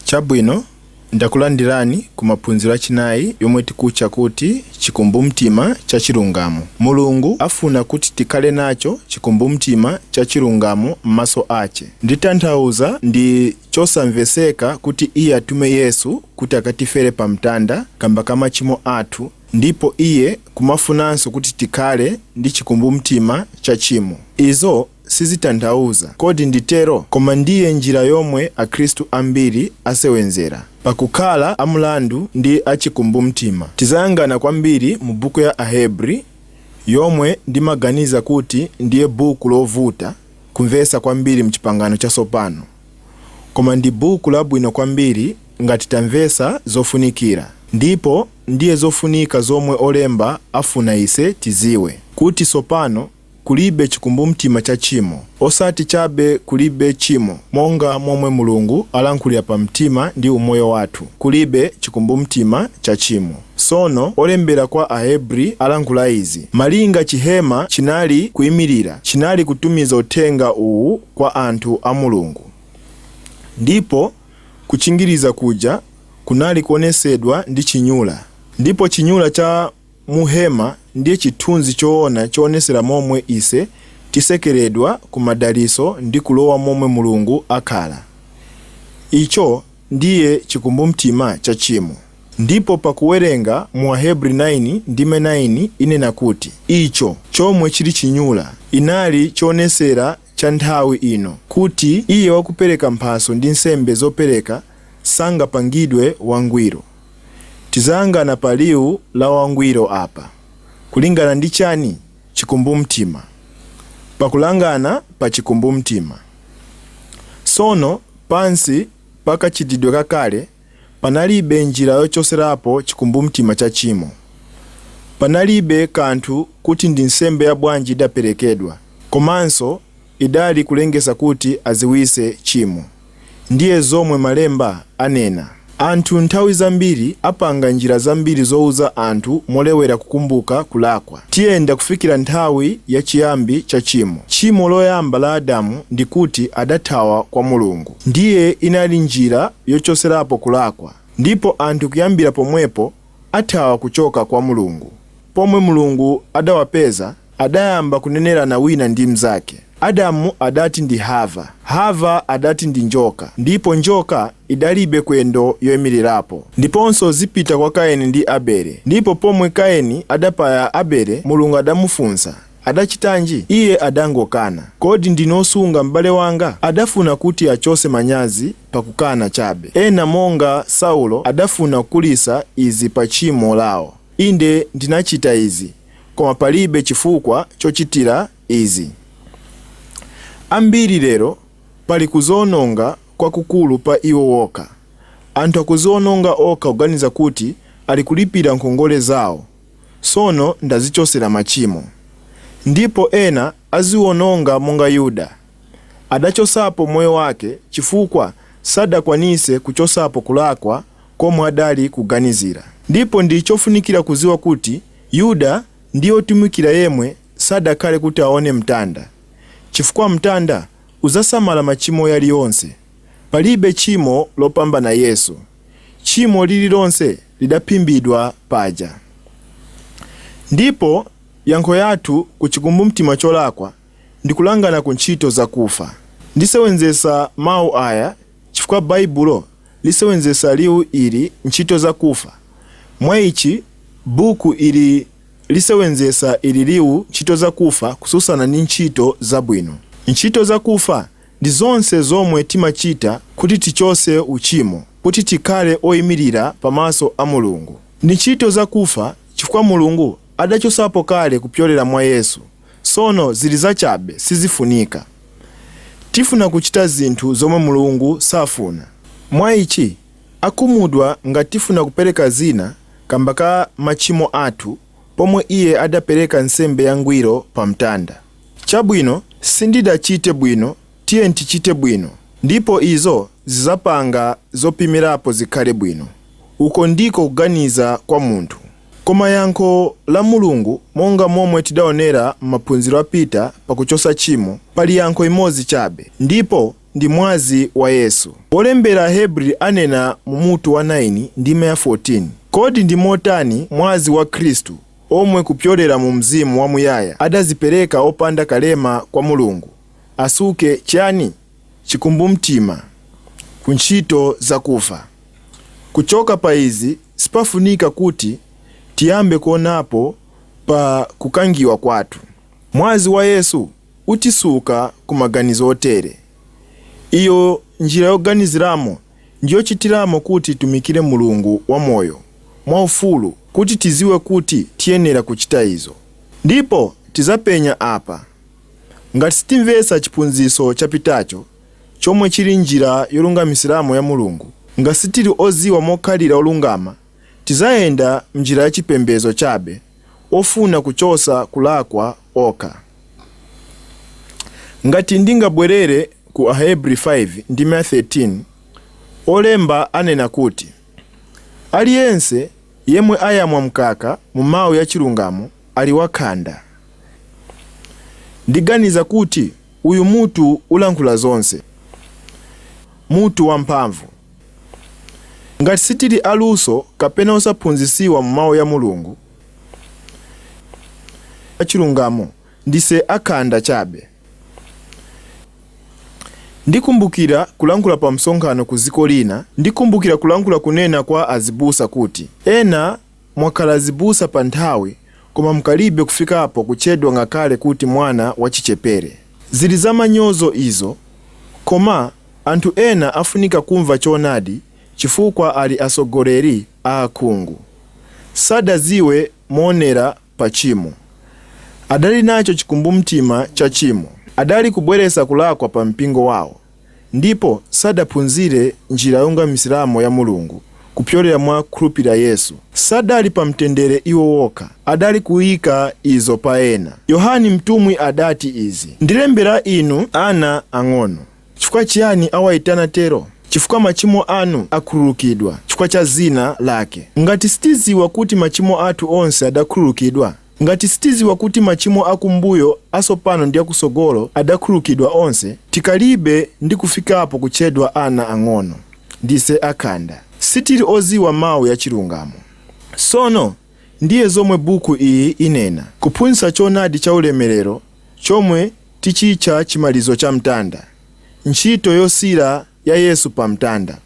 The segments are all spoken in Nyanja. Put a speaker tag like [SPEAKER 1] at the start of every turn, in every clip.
[SPEAKER 1] chabwino ndakulandirani ku maphunziro achinayi yomwe tikutcha kuti chikumbumtima cha chilungamo mulungu afuna kuti tikhale nacho chikumbumtima cha chilungamo m'maso ache nditanthauza ndi chosamveseka kuti Iye atume Yesu kuti akatifere pa mtanda kamba ka machimo athu ndipo Iye kumafunanso kuti tikhale ndi chikumbumtima cha chimo. Izo sizitanthauza, kodi ndi tero? Koma ndiye njira yomwe Akhristu ambiri asewenzera pa kukhala a mulandu ndi a chikumbumtima. Tizayangana kwambiri mu buku ya Ahebri, yomwe ndimaganiza kuti ndiye buku lovuta kumvesa kwambiri m'Chipangano Chatsopano, koma ndi buku labwino kwambiri ngati tamvesa zofunikira ndipo ndiye zofunika zomwe olemba afuna ise tiziwe, kuti tsopano kulibe chikumbumtima cha chimo, osati chabe kulibe chimo monga momwe Mulungu alankhulira pamtima ndi umoyo wathu, kulibe chikumbumtima cha tchimo. Sono olembera kwa Ahebri alankhula izi, malinga chihema chinali kuimilira chinali kutumiza uthenga uwu kwa anthu a Mulungu, ndipo kuchingiriza kuja kunali kuonesedwa ndi chinyula, ndipo chinyula cha mu hema ndiye chithunzi choona choonesera momwe ise tisekeredwa ku madaliso ndi kulowa momwe Mulungu akhala. Icho ndiye chikumbumtima cha chimo. Ndipo pa kuwerenga mu Ahebri 9 ndime 9 inena kuti icho, chomwe chiri chinyula, inali choonesera cha nthawi ino kuti iye wakupereka mphaso ndi nsembe zopereka sangapangidwe wangwiro. Tizayangana pa liu la wangwiro apa. Kulingana ndi chani? Chikumbumtima. Pa kulangana pa chikumbumtima. Sono, pansi pa kachitidwe kakale, Panalibe njira yochoserapo chikumbumtima cha chimo. Panalibe kanthu kuti ndi nsembe ya bwanji idaperekedwa, komanso idali kulengesa kuti aziwise chimo. Ndiye zomwe malemba anena. Anthu nthawi zambiri apanga njira zambiri zouza anthu molewera kukumbuka kulakwa. Tiyenda kufikira nthawi ya chiyambi cha chimo. Chimo loyamba la Adamu ndi kuti adathawa kwa Mulungu. Ndiye inali njira yochoserapo kulakwa ndipo anthu kuyambira pomwepo athawa kuchoka kwa Mulungu. Pomwe Mulungu adawapeza adayamba kunenerana wina ndi mnzake. Adamu adati ndi Hava, Hava adati ndi njoka ndipo njoka idalibe kwendo yoimirirapo. Ndiponso zipita kwa Kaini ndi Abele ndipo pomwe Kaini adapaya Abele Mulungu adamufunsa Adachitanji? Iye adangokana. Kodi ndine osunga m'bale wanga? Adafuna kuti achose manyazi pakukana chabe. Ena monga Saulo adafuna kukulisa izi pa chimo lawo. Inde ndinachita izi, koma palibe chifukwa chochitira izi. Ambiri lero pali kuziononga kwakukulu pa iwo okha. Anthu akuziononga okha kuganiza kuti ali kulipira nkhongole zawo. sono ndazichosera machimo, ndipo ena aziwononga monga Yuda adachosapo moyo wake chifukwa sadakwanise kuchosapo kulakwa komwe adali kuganizira. Ndipo ndi chofunikira kuziwa kuti Yuda ndiye otumikira yemwe sadakhale kuti aone mtanda, chifukwa mtanda uzasamala machimo yaliyonse, palibe chimo lopambana Yesu. chimo lirilonse lidaphimbidwa paja. Ndipo yankho yathu ku chikumbumtima cholakwa ndi kulangana ku ntchito zakufa. Ndisewenzesa mau aya chifukwa Baibulo lisewenzesa liu ili ntchito zakufa, mwa ichi buku ili lisewenzesa ili liu ntchito zakufa kususana ndi ntchito zabwino. Ntchito zakufa ndi zonse zomwe timachita kuti tichose uchimo, kuti tikhale oimirira pamaso a Mulungu. Ndi ntchito zakufa chifukwa Mulungu adachosapo kale kupyolera mwa Yesu, sono zili zachabe sizifunika. Tifuna kuchita zinthu zomwe Mulungu safuna. Mwa ichi, akhumudwa ngati tifuna kupereka zina kamba ka machimo athu pomwe Iye adapereka nsembe yangwiro pamtanda. Chabwino, sindidachite bwino, tiye tichite bwino, ndipo izo zizapanga zopimirapo zikhale bwino. Uko ndiko kuganiza kwa munthu. Koma yankho la Mulungu, monga momwe tidaonera m'maphunziro apita pa kuchosa chimo, pali yankho imodzi chabe, ndipo ndi Mwazi wa Yesu. Wolembera Ahebri anena mu mutu wa 9, ndime ya 14, Kodi ndi motani Mwazi wa Khristu omwe kupyolera mu Mzimu wa Muyaya adazipereka opanda kalema kwa Mulungu, asuke, chani? chikumbumtima, ku ntchito zakufa. Kuchoka pa izi sipafunika kuti tiyambe kuonapo pa kukangiwa kwathu. Mwazi wa Yesu utisuka ku maganizo otere. Iyo, njira yoganiziramo ndi yochitiramo kuti titumikire Mulungu wamoyo mwaufulu, kuti tidziwe kuti tiyenera kuchita izo. Ndipo tidzapenya apa, ngati sitimvetsa chiphunzitso chapitacho, chomwe chiri njira yolungamitsiramo ya Mulungu, ngati sitiri odziwa mokhalira olungama, tidzayenda m'njira ya chipembedzo chabe, ofuna kuchotsa kulakwa kokha. Ngati ndingabwerere ku Ahebri 5 ndime 13, olemba anena kuti, Ali yense yemwe ayamwa mkaka mu Mau ya Chilungamo ali wakhanda. Ndiganiza kuti uyu mutu ulankhula zonse. Mutu wa mphamvu. Ngati sitili aluso kapena osaphunzisiwa mu Mau ya Mulungu, achilungamo ndise akhanda chabe ndikumbukira kulankhula pa msonkhano ku dziko lina ndikumbukira kulankhula kunena kwa azibusa kuti ena mwakhala azibusa pa nthawi koma mkalibe kufikapo kutchedwa ngakhale kuti mwana wachichepere zili za manyozo izo koma anthu ena afunika kumva choonadi chifukwa ali atsogoleri a akhungu. Sadadziwe moonera pa tchimo. Adali nacho chikumbumtima cha tchimo. Adali kubweretsa kulakwa pa mpingo wao ndipo sadaphunzire njira yolungamisiramo ya Mulungu kupyolera mwa khulupirira Yesu. Sadali pa mtendere iwo wokha, adali kuika izo pa ena. Yohane mtumwi adati izi, Ndilembera inu ana ang'ono. Chifukwa chiyani awaitana tero? Chifukwa machimo anu akhululukidwa, chifukwa cha zina Lake. Ngati sitiziwa kuti machimo athu onse adakhululukidwa, ngati sitiziwa kuti machimo akumbuyo, asopano ndi akusogolo adakhululukidwa onse, tikalibe ndi kufikapo kutchedwa ana ang'ono. Ndise akhanda. Sitiri oziwa mau ya chilungamo. Sono, ndiye zomwe buku iyi inena, kuphunzitsa chonadi cha ulemerero chomwe tichitcha chimalizo cha mtanda, ntchito yosira ya Yesu pa mtanda,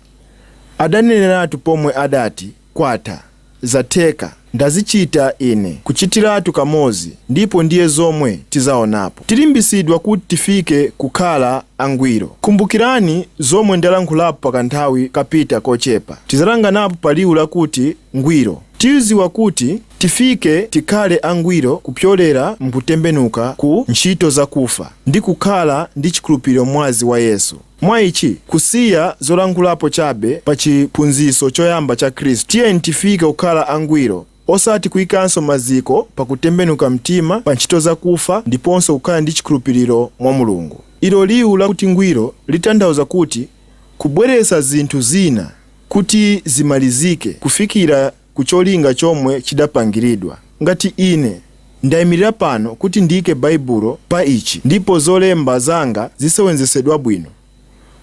[SPEAKER 1] adaneneratu pomwe adati, kwatha, zatheka, ndazichita ine, kuchitiratu kamodzi ndipo ndiye zomwe tizaonapo. Tilimbisidwa kuti tifike kukhala angwiro. Kumbukirani zomwe ndalankhulapo pakanthawi kapita kochepa. Tizalanganapo pa liwu lakuti ngwiro. Tiuziwa kuti tifike tikhale angwiro kupyolera mkutembenuka ku ntchito zakufa ndi kukhala ndi chikhulupiriro m'mwazi wa Yesu. Mwa ichi, kusiya zolankhulapo chabe pa chiphunzitso choyamba cha Khristu, tiyeni tifike kukhala angwiro, osati kuikanso maziko pa kutembenuka mtima pa ntchito zakufa ndiponso kukhala ndi chikhulupiriro mwa Mulungu. Ilo liwu lakuti ngwiro litanthauza kuti kubweretsa zinthu zina kuti zimalizike kufikira ku cholinga chomwe chidapangiridwa. Ngati ine ndaimirira pano kuti ndiike Baibulo pa ichi ndipo zolemba zanga zisewenzesedwa bwino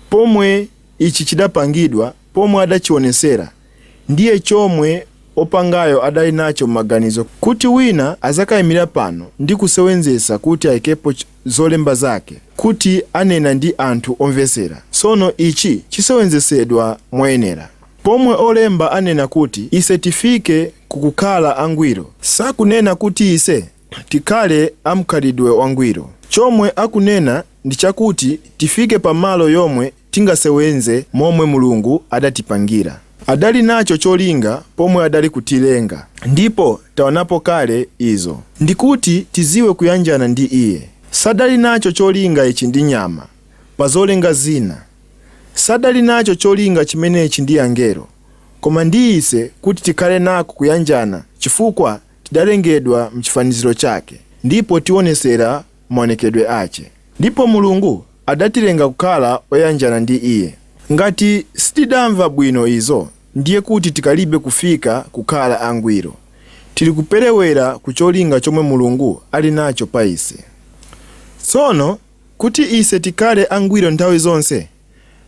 [SPEAKER 1] pomwe ichi chidapangidwa pomwe adachionesera ndiye chomwe opangayo adali nacho m'maganizo kuti wina azakaimirira pano ndi kusewenzesa kuti aikepo zolemba zake kuti anena ndi anthu omvesera. Sono ichi chisewenzesedwa moyenera. Pomwe olemba anena kuti ise tifike ku kukhala angwiro, sakunena kuti ise tikhale amkhalidwe wangwiro. Chomwe akunena ndi chakuti tifike pa malo yomwe tingasewenze momwe Mulungu adatipangira. Adali nacho cholinga pomwe adali kutilenga ndipo taonapo kale izo. Ndikuti tiziwe kuyanjana ndi iye. Sadali nacho cholinga ichi ndi nyama, pazolenga zina. Sadali nacho cholinga chimenechi ndi angelo, koma ndi ise kuti tikhale nako kuyanjana chifukwa tidalengedwa mchifaniziro chake ndipo tionesera maonekedwe ache. Ndipo Mulungu adatilenga kukhala oyanjana ndi iye. Ngati sitidamva bwino izo, ndiye kuti tikalibe kufika kukhala angwiro. Tiri kuperewera ku cholinga chomwe Mulungu ali nacho pa ise. Tsono, kuti ise tikhale angwiro nthawi zonse,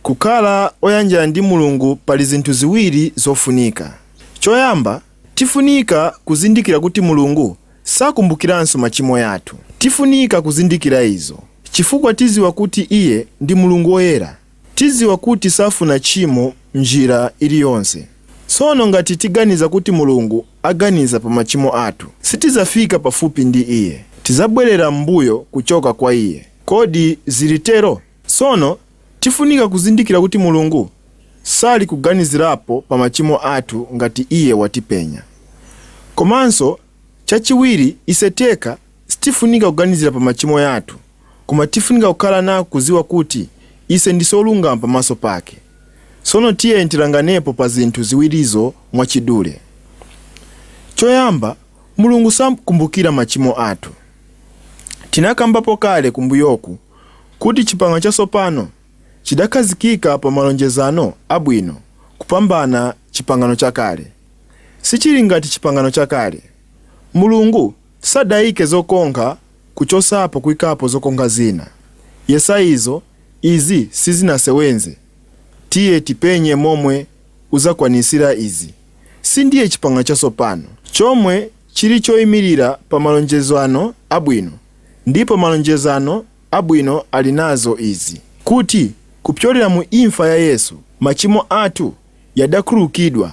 [SPEAKER 1] kukhala oyanjana ndi Mulungu pali zinthu ziwiri zofunika. Choyamba, tifunika kuzindikira kuti Mulungu sakumbukiranso machimo yathu. Tifunika kuzindikira izo chifukwa tiziwa kuti iye ndi Mulungu woyera. Tiziwa kuti safuna tchimo mnjira iliyonse. Tsono ngati tiganiza kuti Mulungu aganiza pa machimo athu, sitizafika pafupi ndi iye. Tizabwerera m'mbuyo kuchoka kwa iye. Kodi zili tero? Tsono tifunika kuzindikira kuti Mulungu sali kuganizirapo pa machimo athu ngati iye watipenya. Komanso chachiwiri ise teka sitifunika kuganizira pa machimo yathu koma tifunika kukhala nako kuziwa kuti ise ndise olungama pamaso pake. Sono tiyeni tilanganepo pa zinthu ziwirizo mwachidule. Choyamba Mulungu samakumbukira machimo athu. Tinakambapo kale kumbuyoku kuti Chipangano Chatsopano chidakhazikika pa malonjezano abwino kupambana Chipangano Chakale. Sichili ngati Chipangano Chakale. Mulungu sadaike zokonkha kuchosapo kuikapo zokonkha zina. Yesa izo izi sizinasewenze. Tiye tipenye momwe udzakwanitsira izi. Sindiye Chipangano Chatsopano chomwe chili choimirira pa malonjezano abwino. Ndipo malonjezano abwino ali nazo izi, kuti kupyolera mu imfa ya Yesu machimo athu yadakhululukidwa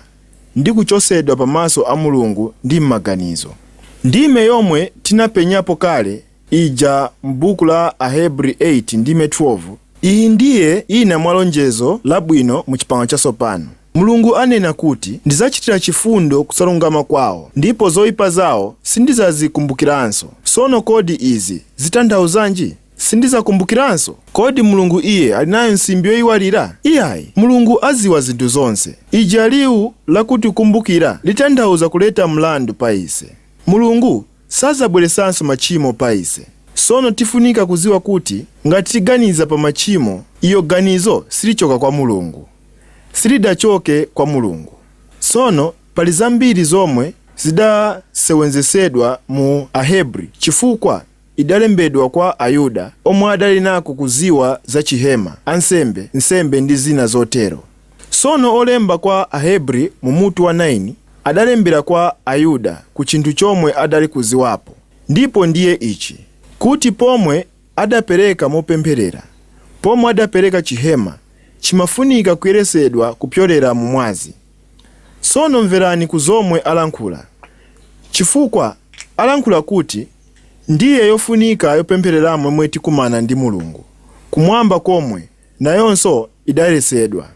[SPEAKER 1] ndi kuchosedwa pamaso a Mulungu ndi m'maganizo. Ndime yomwe tinapenyapo kale ija m'buku la Ahebri 8 ndime 12, iyi ndiye ina mwa lonjezo labwino mu Chipangano Chatsopano. Mulungu anena kuti, Ndidzachitira chifundo kusalungama kwawo, ndipo zoipa zawo sindidzazikumbukiranso. Tsono kodi izi zitanthauzanji? Sindidzakumbukiranso? Kodi Mulungu iye ali nayo nsimbi yoiwalira? Iyayi, Mulungu adziwa zinthu zonse. Ija liwu lakuti kukumbukira litanthauza kuleta mlandu pa ise. Mulungu sadzabweresanso machimo pa ise. Tsono tifunika kudziwa kuti ngati tiganiza pa machimo, iyo ganizo silichoka kwa Mulungu. silidachoke kwa Mulungu. Tsono pali zambiri zomwe zidasewenzesedwa mu Ahebri chifukwa idalembedwa kwa Ayuda omwe adali nako kuziwa za chihema, ansembe, nsembe ndi zina zotero. Tsono olemba kwa Ahebri mu mutu wa 9 adalembera kwa Ayuda ku chinthu chomwe adali kuziwapo ndipo ndiye ichi, kuti pomwe adapereka mopempherera. Pomwe adapereka chihema chimafunika kuyeresedwa kupyolera mu mwazi. Tsono mverani ku zomwe alankhula chifukwa alankhula kuti ndiye yofunika yopemphereramo mwe tikumana ndi Mulungu kumwamba komwe nayonso idayeresedwa.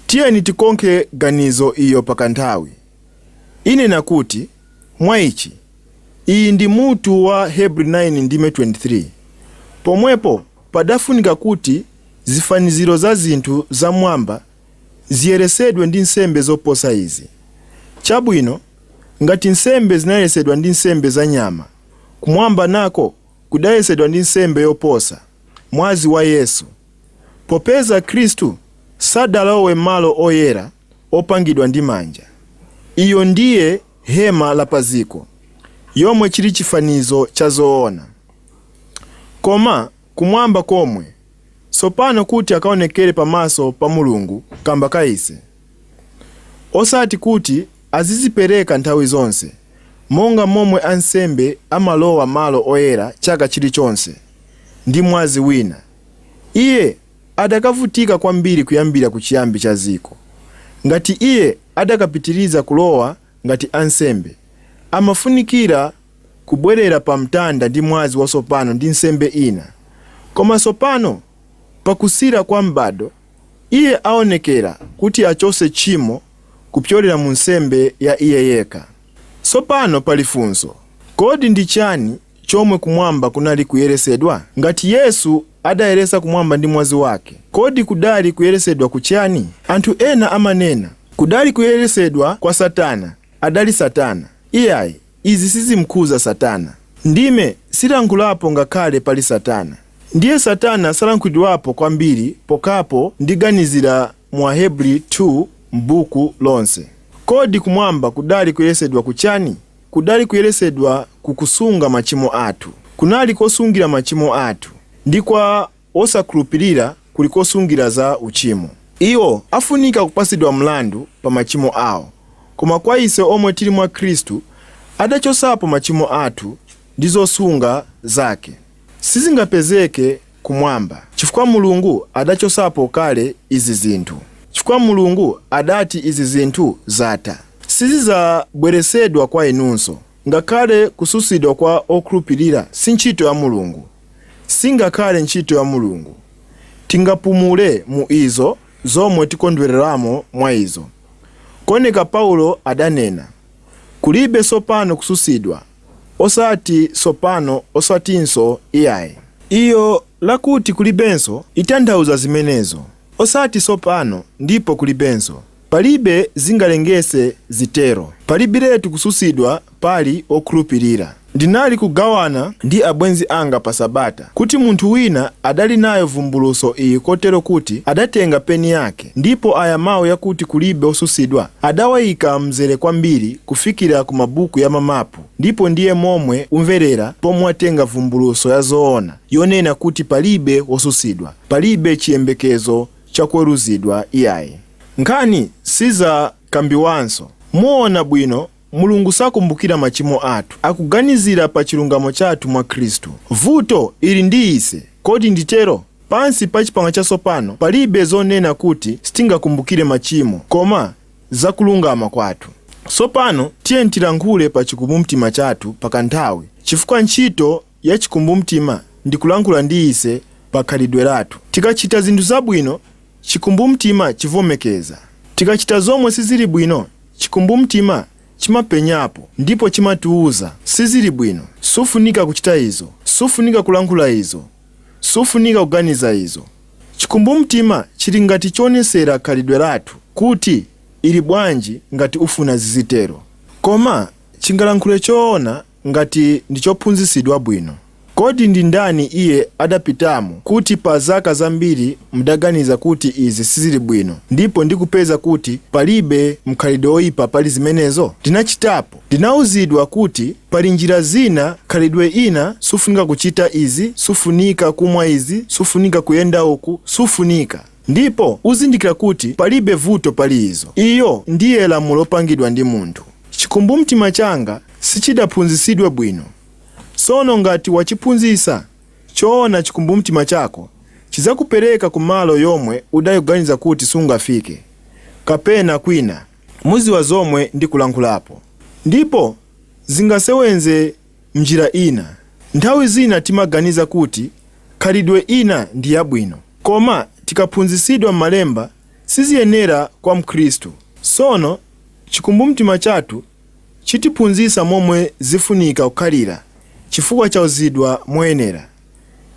[SPEAKER 1] Tiyeni tikonkhe ganizo iyo pakanthawi. Inena kuti, Mwa ichi. Iyi ndi mutu wa Heb 9 ndime 23. Pomwepo padafunika kuti zifaniziro za zinthu za m'mwamba ziyeresedwe ndi nsembe zoposa izi. Chabwino, ngati nsembe zinayeresedwa ndi nsembe za nyama, kumwamba nako kudayeresedwa ndi nsembe yoposa, mwazi wa Yesu. Popeza Khristu sadalowe m'malo oyera. opangidwa ndi manja. Iyo ndiye hema la pa dziko, yomwe chiri chifanizo cha zoona. Koma kumwamba komwe, tsopano kuti akaonekere pamaso pa Mulungu kamba ka ise, osati kuti azizipereka nthawi zonse monga momwe ansembe amalowa malo oyera chaka chiri chonse ndi mwazi wina. Iye. adakavutika kwambiri kuyambira kuchiyambi cha dziko, ngati iye adakapitiriza kulowa ngati ansembe, amafunikira kubwerera pa mtanda ndi mwazi watsopano ndi nsembe ina. Koma tsopano, pakusira kwa m'bado, iye aonekera kuti achotse tchimo kupyolera mu nsembe ya iye yekha. Tsopano pali funso, Kodi ndi chani chomwe kumwamba kunali kuyeresedwa? Ngati Yesu adayeresa kumwamba ndi mwazi wake, kodi kudali kuyeresedwa ku chani? Anthu ena amanena, kudali kuyeresedwa kwa satana, adali satana. Iyayi, izi sizimkhuza satana. Ndime silankhulapo ngakhale pali satana. Ndiye satana salankhulidwapo kwambiri pokhapo ndiganizira mu Ahebri 2 m'buku lonse. Kodi kumwamba kudali kuyeresedwa ku chani? Kudali kuyeretsedwa ku kusunga machimo athu. Kunali kosungira machimo athu, ndi kwa wosakhulupirira kuli kosungira za uchimo. Iwo afunika kupatsidwa mlandu pa machimo ao, koma kwa ise omwe tiri mwa Khristu, adachotsapo machimo athu ndi zosunga zake. Sizingapezeke kumwamba, chifukwa Mulungu adachotsapo kale izi zinthu, chifukwa Mulungu adati izi zinthu zatha, sizidzabweretsedwa kwa inunso, ngakhale kutsutsidwa kwa okhulupilira si ntchito ya Mulungu, singakhale ntchito ya Mulungu, tingapumule mu izo zomwe tikondweleramo mwa izo, koneka Paulo adanena, kulibe tsopano kutsutsidwa. Osati tsopano, osatinso, iyayi. Iyo lakuti kulibenso, itanthauza zimenezo. Osati tsopano, ndipo kulibenso. Palibe zingalengese zitero. Palibiletu kutsutsidwa pali wokhulupirira. Ndinali kugawana ndi abwenzi anga pa sabata, kuti munthu wina adali nayo vumbulutso iyi kotero kuti adatenga peni yake, Ndipo aya mau yakuti kulibe osusidwa adawaika mzere kwambiri kufikira ku mabuku ya mamapu ndipo ndiye momwe umverera pomwe watenga vumbuluso ya zoona yonena kuti palibe wosusidwa, palibe chiyembekezo cha kuweruzidwa iyayi. Nkhani sizakambiwanso muona bwino Mulungu sakumbukira machimo athu. Akuganizira pa chilungamo chathu mwa Khristu. Vuto ili ndi ise, kodi ndi tero? Pansi pa Chipangano Chatsopano palibe zonena kuti sitingakumbukire machimo, koma za kulungama kwathu. Tsopano tiyeni tilankhule pa chikumbumtima chathu pa kanthawi, chifukwa ntchito ya chikumbumtima ndi kulankhula ndi ise pa khalidwe lathu. Tikachita zinthu zabwino, chikumbumtima chivomekeza. Tikachita zomwe sizili bwino, chikumbumtima chimapenyapo ndipo chimatiuza, Sizili bwino. Sufunika kuchita izo. Sufunika kulankhula izo. Sufunika kuganiza izo. Chikumbumtima chili ngati chonesera khalidwe lathu kuti, Ili bwanji ngati ufuna zizitero? Koma chingalankhule choona Ngati ndi chophunzitsidwa bwino, kodi ndi ndani iye adapitamo kuti pa zaka zambiri mudaganiza kuti izi sizili bwino ndipo ndikupeza kuti palibe mkhalidwe oipa pali zimenezo? Ndinachitapo. Ndinauzidwa kuti pali njira zina khalidwe ina sufunika kuchita izi, sufunika kumwa izi, sufunika kuyenda uku, sufunika. Ndipo uzindikira kuti palibe vuto pali izo. Iyo ndiye lamulo lopangidwa ndi munthu. Chikumbumtima changa sichidaphunzitsidwe bwino. Tsono, ngati wachiphunzitsa choona chikumbumtima chako chidzakupereka ku malo yomwe udali kuganiza kuti sungafike, kapena kwina. Mudziwa zomwe ndikulankhulapo. Ndipo zingasewenze m'njira ina. Nthawi zina timaganiza kuti khalidwe ina ndi yabwino, koma tikaphunzitsidwa m'malemba siziyenera kwa mkhristu. Sono, chikumbumtima chathu chitiphunzitsa momwe zifunika kukhalira chifukwa chauzidwa moyenera.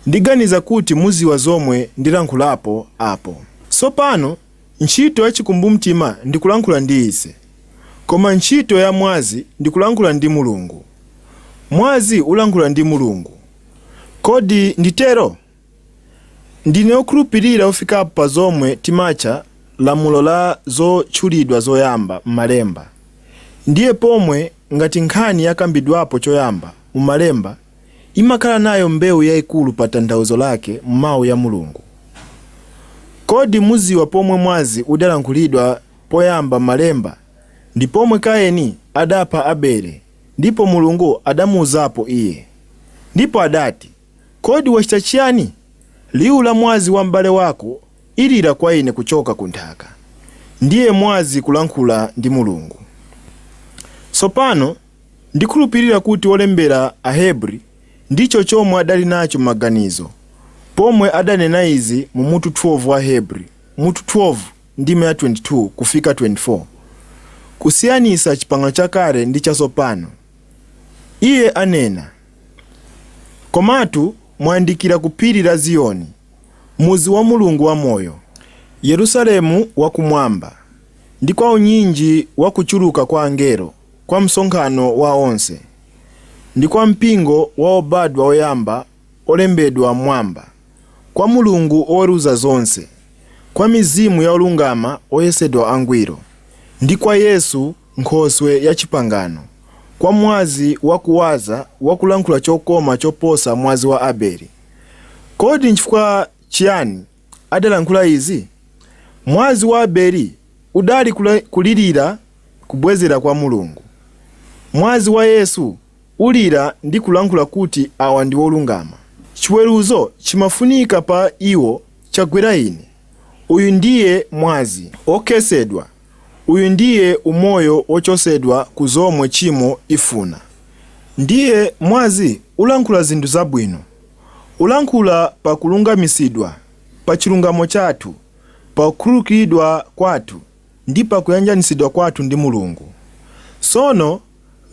[SPEAKER 1] Ndiganiza kuti muziwa zomwe ndilankhulapo apo sopano. Ntchito ya chikumbumtima ndi kulankhula ndi ise, koma ntchito ya mwazi ndi kulankhula ndi Mulungu. Mwazi ulankhula ndi Mulungu. Kodi ndi tero? Ndine okhulupirira ofikapo pa zomwe timatcha lamulo la zotchulidwa zoyamba m'malemba. Ndiye pomwe ngati nkhani yakambidwapo choyamba mu malemba imakhala nayo mbeu yaikulu pa tanthauzo lake mu mau ya Mulungu. Kodi muziwa pomwe mwazi udalankhulidwa poyamba m'malemba ndi pomwe Kaini adapha Abele ndipo Mulungu adamuuzapo iye ndipo adati kodi wachita chiyani liu la mwazi wa m'bale wako ilira kwa ine kuchoka ku nthaka ndiye mwazi kulankhula ndi Mulungu tsopano Ndikhulupirira kuti wolembera Ahebri ndicho chomwe adali nacho m'maganizo pomwe adanena izi mu mutu 12 wa Ahebri, mutu 12, ndime ya 22 kufika 24, kusiyanisa Chipangano Chakale ndi Chatsopano. Iye anena, Komatu mwayandikira ku phiri la Ziyoni, mudzi wa Mulungu wa moyo, Yerusalemu wa Kumwamba, ndi kwa unyinji wakuchuluka kwa angelo, kwa msonkhano wa onse, ndi kwa mpingo wa obadwa oyamba olembedwa m'Mwamba, kwa Mulungu oweruza zonse, kwa mizimu ya olungama oyesedwa angwiro, ndi kwa Yesu, Nkhoswe ya chipangano, kwa mwazi wa kuwaza wa kulankhula chokoma choposa mwazi wa Abeli. Kodi nchifukwa chiyani adalankhula izi? Mwazi wa Abeli udali kulirira kubwezera kwa Mulungu. Mwazi wa Yesu ulira ndi kulankhula kuti awa ndi olungama. Chiweruzo chimafunika pa iwo chagwera ine. Uyu ndiye mwazi okhetsedwa, uyu ndiye umoyo wochotsedwa ku zomwe chimo ifuna. Ndiye mwazi ulankhula zinthu zabwino. Ulankhula pa kulungamitsidwa, pa chilungamo chathu, pa kukhululukidwa kwathu. ndi pa kuyanjanitsidwa kwathu ndi Mulungu. Sono,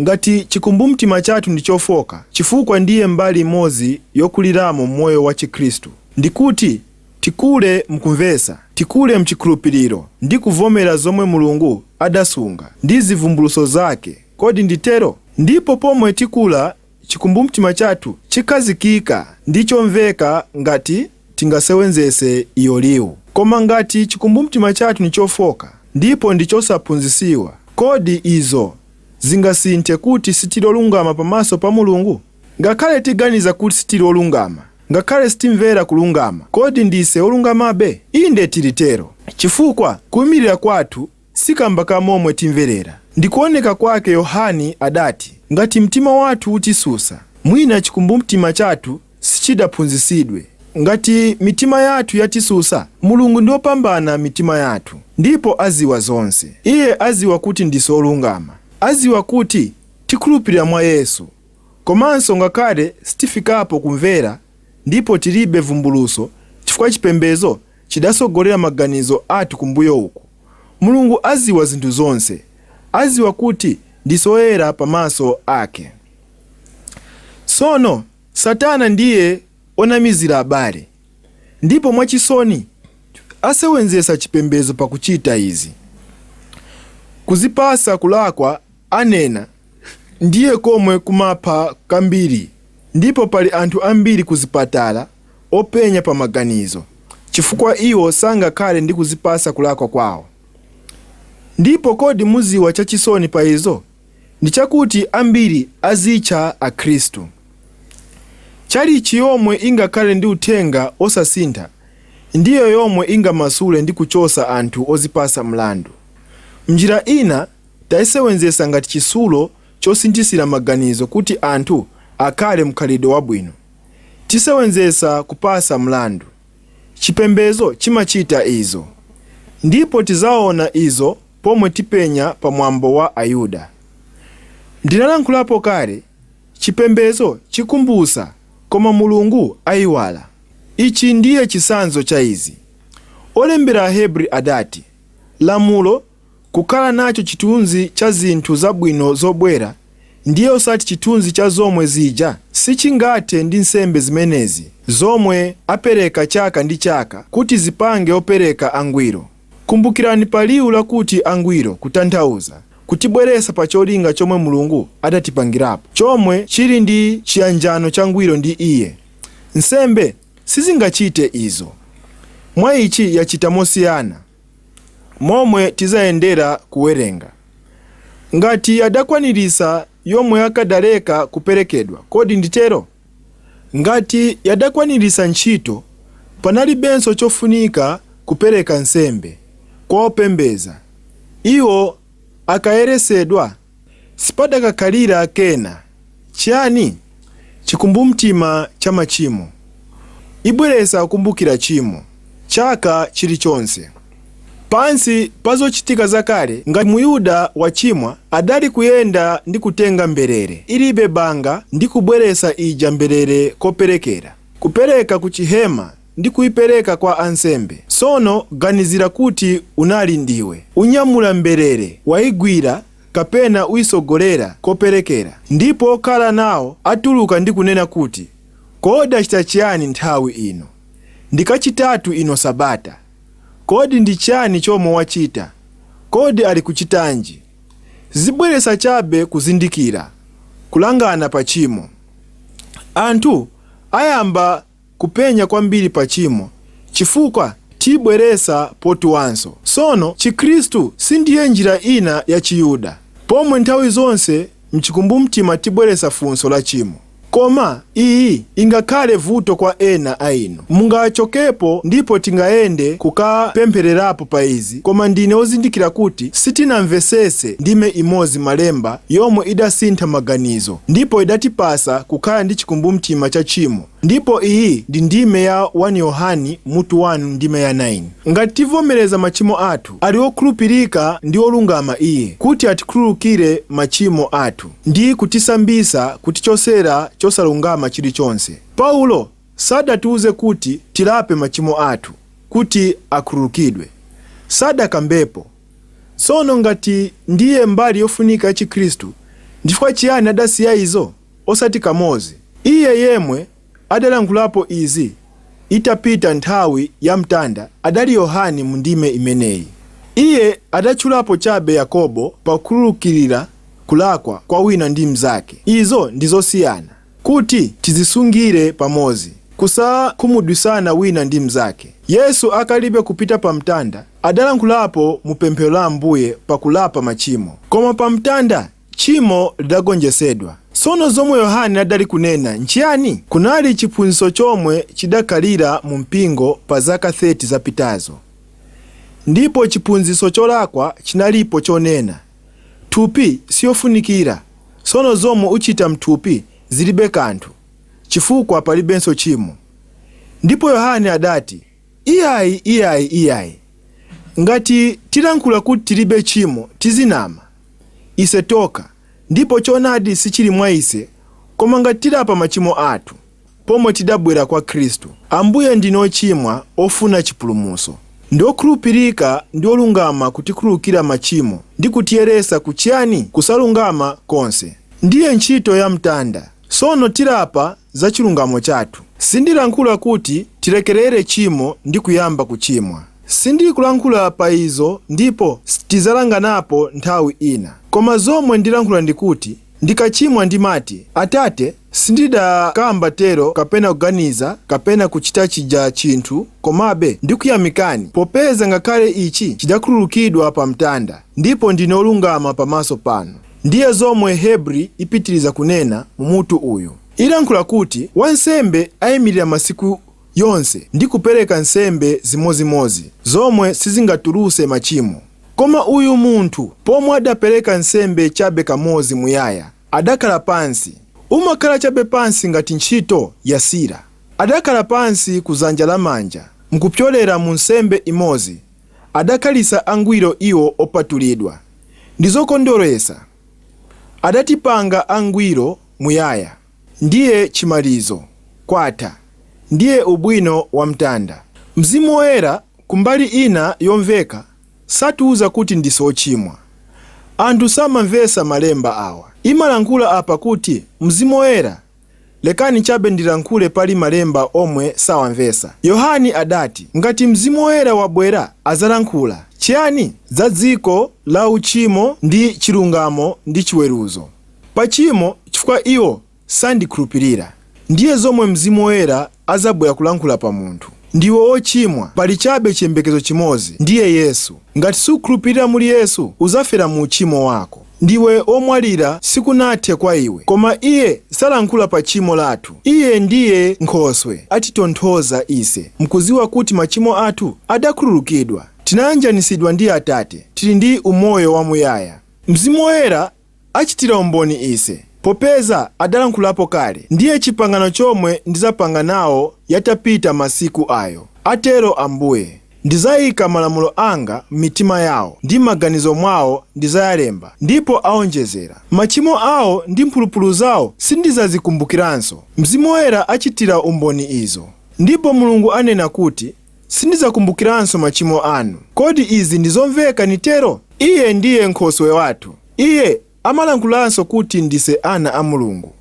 [SPEAKER 1] ngati chikumbumtima chathu ndi chofoka, chifukwa ndiye mbali imodzi yokuliramo m'moyo wa chikhristu, ndi kuti tikule mkumvetsa, tikule mchikhulupiriro, ndi kuvomera zomwe Mulungu adasunga, ndi zivumbulutso zake, kodi ndi tero? Ndipo pomwe tikula, chikumbumtima chathu chikhazikika ndi chomveka ngati. tingasewenzetse iyo liwu. Koma ngati cikumbumtima cathu ni cofoka ndipo ndi cosaphunzitsiwa, kodi izo zingasinthe kuti sitili olungama pamaso pa Mulungu? Ngakhale tiganiza kuti sitili olungama, ngakhale sitimvera kulungama, kodi ndise olungamabe? Inde tili tero, cifukwa kuimilira kwathu Si kamba ka momwe timverera ndi kuoneka kwake Yohane adati ngati mtima wathu utisusa mwina chikumbumtima chathu sichidaphunzisidwe ngati mitima yathu yatisusa Mulungu ndi opambana mitima yathu ndipo aziwa zonse iye aziwa kuti ndise olungama aziwa kuti tikhulupilira mwa Yesu komanso ngakhale sitifikapo kumvera ndipo tilibe vumbuluso chifukwa chipembezo chidasogolera maganizo athu kumbuyo uku. Mulungu aziwa zinthu zonse. Aziwa kuti ndise oyera pa maso ake. Sono, satana ndiye onamizila abale. Ndipo mwa chisoni, asewenzesa chipembezo pa kuchita izi. Kuzipasa kulakwa anena ndiye komwe kumapha kambili ndipo pali anthu ambili kuzipatala, openya pa maganizo, chifukwa iwo sangakhale ndi kuzipasa kulakwa kwawo. Ndipo kodi muziwa chachisoni pa izo? Ndi chakuti ambiri azitcha Akhristu. Chalichi yomwe ingakhale ndi uthenga osasintha ndiyo yomwe ingamasule ndi kuchosa anthu ozipasa mlandu. Mnjira ina taisewenzesa ngati chisulo chosinthisira maganizo kuti anthu akhale mkhalidwe wabwino. tisewenzesa kupasa mlandu. Chipembezo chimachita izo. Ndipo tizaona izo pomwe tipenya pa mwambo wa Ayuda. Ndinalankhulapo kale, chipembezo chikumbusa, koma Mulungu aiwala. Ichi ndiye chisanzo cha izi. Olembera Ahebri adati, Lamulo kukhala nacho chithunzi cha zinthu zabwino zobwera, ndiye osati chithunzi cha zomwe zija, sichingathe ndi nsembe zimenezi zomwe apereka chaka ndi chaka kuti zipange opereka angwiro. Kumbukirani pa liwu lakuti angwiro kutanthauza kutibweresa pa cholinga chomwe Mulungu adatipangirapo, chomwe chili ndi chiyanjano changwiro ndi Iye. Nsembe sizingachite izo. Mwa ichi yachita mosiyana. momwe tizayendera kuwerenga. Ngati yadakwanirisa yomwe yakadaleka kuperekedwa kodi nditero? Ngati yadakwanirisa ntchito panalibenso chofunika kupereka nsembe kwa opembeza, iwo akayeresedwa? Sipadakakhalira kena, chiyani? chikumbumtima cha machimo. Ibweresa kukumbukira chimo, chaka chilichonse. Pansi pa zochitika zakale, ngati Muyuda wachimwa adali kuyenda ndi kutenga mberere ilibe banga ndi kubweresa ija mberere koperekera, kupereka ku chihema ndi kuipereka kwa ansembe. Tsono ganizira kuti unali ndiwe unyamula mberere, waigwira kapena uitsogolera koperekera, ndipo okhala nawo atuluka ndi kunena kuti, Kodi achita chiyani nthawi ino, ndi kachitatu ino Sabata? Kodi ndi chiyani chomwe wachita? Kodi alikuchitanji? Zibweresa chabe kuzindikira, kulangana pa chimo. Anthu ayamba kupenya kwambiri pa chimo chifukwa tibweresa potuanso sono chikhristu sindiye njira ina ya chiyuda pomwe nthawi zonse mchikumbumtima tibweresa funso la chimo koma iyi ingakhale vuto kwa ena a inu mungachokepo ndipo tingayende kukapemphererapo pa izi. izi koma ndine ozindikira kuti sitinamvesese ndime imozi malemba yomwe idasintha maganizo ndipo idatipasa kukhala ndi chikumbumtima cha tchimo ndipo iyi ndi ndime ya 1 Yohane mutu 1 ndime ya 9 ngati tivomereza machimo athu ali okhulupirika ndi olungama iye kuti atikhululukire machimo athu ndi kutisambisa kutichosera chosalungama chilichonse paulo Sadatiuze kuti tilape machimo athu kuti akhululukidwe. Sadakambepo. Sono ngati ndiye mbali yofunika ya Chikhristu, ndifukwa chiyani adasiya izo? Osati kamozi. Iye yemwe adalankhulapo izi itapita nthawi ya mtanda adali Yohane mu ndime imeneyi. Iye adatchulapo chabe Yakobo pa kukhululukirira kulakwa kwa wina ndi mnzake. Izo ndi zosiyana. Kuti tizisungire pamozi, kusakhumudwisana wina ndi mnzake. Yesu akalibe kupita pa mtanda, adalankhulapo mu pemphero la Ambuye pa kulapa machimo. Koma pa mtanda, tchimo lidagonjesedwa. Sono zomwe Yohane adali kunena nchiyani? Kunali chiphunzitso chomwe chidakhalira mu mpingo pa zaka 30 zapitazo. Ndipo chiphunzitso cholakwa chinalipo chonena. Thupi siyofunikira, sono zomwe uchita mthupi zilibe kanthu, chifukwa palibenso tchimo. Ndipo Yohane adati, Iyayi, iyayi, iyayi! Ngati tilankhula kuti tilibe tchimo, tizinama ise tokha, ndipo chonadi sichili mwa ise. Koma ngati tilapa machimo athu. Pomwe tidabwera kwa Khristu, Ambuye ndine ochimwa ofuna chipulumutso. Ndi okhulupirika ndi olungama kutikhululukira machimo ndi kutiyeresa ku chiyani? Kusalungama konse. Ndiye ntchito ya mtanda. Sono tilapa za chilungamo chathu. Sindilankhula kuti tilekelere tchimo ndi kuyamba kuchimwa. Sindili kulankhula pa izo ndipo tizalanganapo nthawi ina. Koma zomwe ndilankhula ndikuti Ndikachimwa ndimati, Atate, sindidakamba tero kapena kuganiza kapena kuchita chija chinthu, komabe ndikuyamikani, popeza ngakhale ichi chidakhululukidwa pa mtanda, ndipo ndine olungama pamaso panu. Ndiye zomwe Hebri ipitiriza kunena mu mutu uyu. Ilankhula kuti wansembe aimilira masiku. yonse ndi kupereka nsembe zimozimozi zomwe sizingatuluse machimo. Koma uyu munthu pomwe adapereka nsembe chabe kamozi muyaya, adakhala pansi. Umakhala chabe pansi ngati ntchito yasira. Adakhala pansi ku zanja la manja mkupyolera mu nsembe imozi adakhalisa angwiro iwo opatulidwa. Ndizokondweresa. Adatipanga angwiro muyaya. Ndiye chimalizo, kwatha. Ndiye ubwino wa mtanda. Mzimu Woyera, kumbali ina yomveka, satiuza kuti ndise ochimwa. Anthu samamvesa malemba awa. Imalankhula apa kuti Mzimu Woyera, lekani chabe ndilankhule pali malemba omwe sawamvesa. Yohani adati, ngati Mzimu Woyera wabwera azalankhula, chiyani? Za dziko la uchimo ndi chilungamo ndi chiweruzo. pa chimo chifukwa iwo sandikhulupilira. Ndiye zomwe Mzimu Woyera azabwera kulankhula pa munthu. Ndiwe ochimwa, pali chabe chiyembekezo chimozi, ndiye Yesu. Ngati sukhulupilira muli Yesu, uzafera mu uchimo wako. Ndiwe omwalira sikunathe kwa iwe. Koma Iye salankhula pa chimo lathu. Iye ndiye Nkhoswe atitonthoza ise mkuziwa kuti machimo athu adakhululukidwa. Tinayanjanisidwa ndi Atate. Tili ndi umoyo wamuyaya. Mzimu Woyera achitira umboni ise, popeza adalankhulapo kale, ndiye chipangano chomwe ndizapanga nawo yatapita masiku ayo, atero Ambuye, ndizaika malamulo anga m'mitima yao, ndi m'maganizo mwao ndizayalemba, ndipo aonjezera, machimo ao ndi mphulupulu zao sindizazikumbukiranso. Mzimu Woyera achitira umboni izo. Ndipo Mulungu anena kuti. Sindizakumbukiranso machimo anu. Kodi izi ndi zomveka nitero? Iye ndiye Nkhoswe wathu. Iye amalankhulanso kuti ndise ana a Mulungu,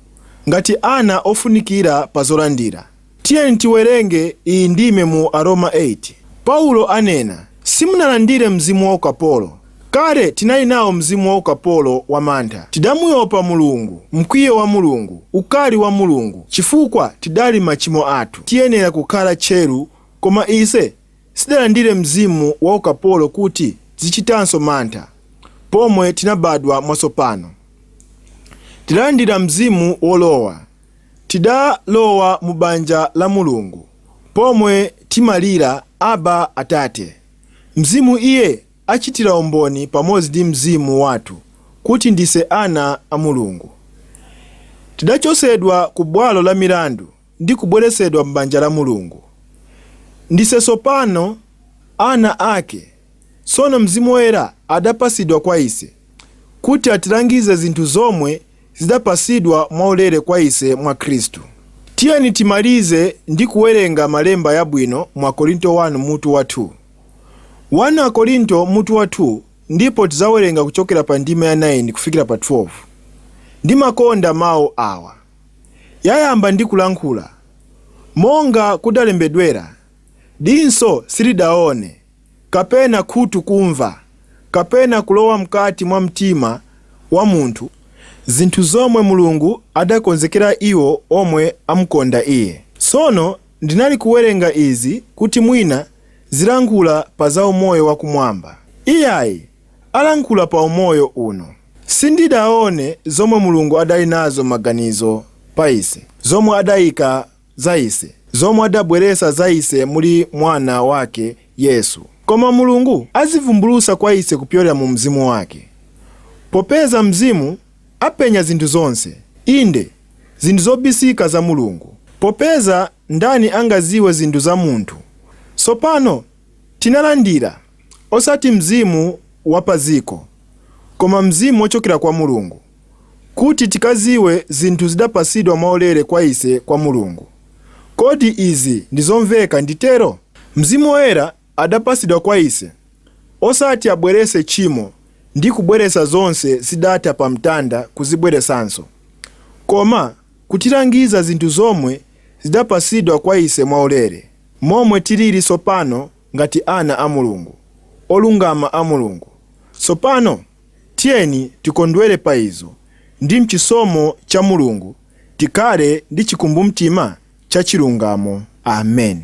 [SPEAKER 1] ngati ana ofunikira pa zolandira. Tiyeni tiwerenge iyi ndime mu Aroma 8. Paulo anena, Simunalandire mzimu wa ukapolo. Kale tinali nao mzimu wa ukapolo wa mantha, tidamuyopa Mulungu, mkwiyo wa Mulungu, ukali wa Mulungu, chifukwa tidali machimo athu. Tiyenera kukhala tcheru koma ise sitidalandire mzimu wa ukapolo kuti tizichitanso mantha. Pomwe tinabadwa mwatsopano, tidalandira mzimu wolowa. Tidalowa mu banja la Mulungu pomwe timalira, Abba, Atate. Mzimu iye Achitira umboni pamodzi ndi mzimu wathu kuti ndise ana a Mulungu. Tidachosedwa ku bwalo la milandu ndi kubweresedwa m'banja la Mulungu. Ndise sopano ana ake. Sono Mzimu Woyera adapasidwa kwa ise kuti atilangize zinthu zomwe zidapasidwa mwaulere kwa ise mwa Khristu. Tiyeni timalize ndi kuwerenga malemba yabwino mu Akorinto 1 mutu wa 2. 1 Akorinto mutu wa 2 ndipo tizawerenga kuchokera pa ndima ya 9 kufikira pa 12. Ndimakonda mau awa. Yayamba ndi kulankhula, Monga kudalembedwera, Dinso silidaone, kapena khutu kumva, kapena kulowa mkati mwa mtima wa munthu, zinthu zomwe Mulungu adakonzekera iwo omwe amkonda Iye. Sono Ndinali kuwerenga izi kuti mwina zilankhula pa za umoyo wakumwamba. Iyayi, alankhula pa umoyo uno. Sindidaone zomwe Mulungu adali nazo maganizo pa ise, zomwe adaika za ise, zomwe adabweresa za ise muli Mwana wake Yesu. Koma Mulungu azivumbulusa kwa ise kupyolera mu Mzimu wake, popeza Mzimu apenya zinthu zonse, inde, zinthu zobisika za Mulungu, popeza ndani angaziwe zinthu za munthu? Sopano tinalandira, osati mzimu wa paziko, koma Mzimu wochokera kwa Mulungu, kuti tikaziwe zinthu zidapasidwa mwaulere kwa ise kwa Mulungu. Kodi izi ndi zomveka, nditero? Mzimu Woyera adapasidwa kwa ise, osati abwerese tchimo ndi kubweresa zonse zidatha pa mtanda kuzibweresanso, koma kutilangiza zinthu zomwe zidapasidwa kwa ise mwaulere, momwe tiliri sopano ngati ana a Mulungu, olungama a Mulungu. Sopano tiyeni tikondwere pa izo, ndi m'chisomo cha Mulungu tikhale ndi chikumbumtima cha chilungamo. Amen.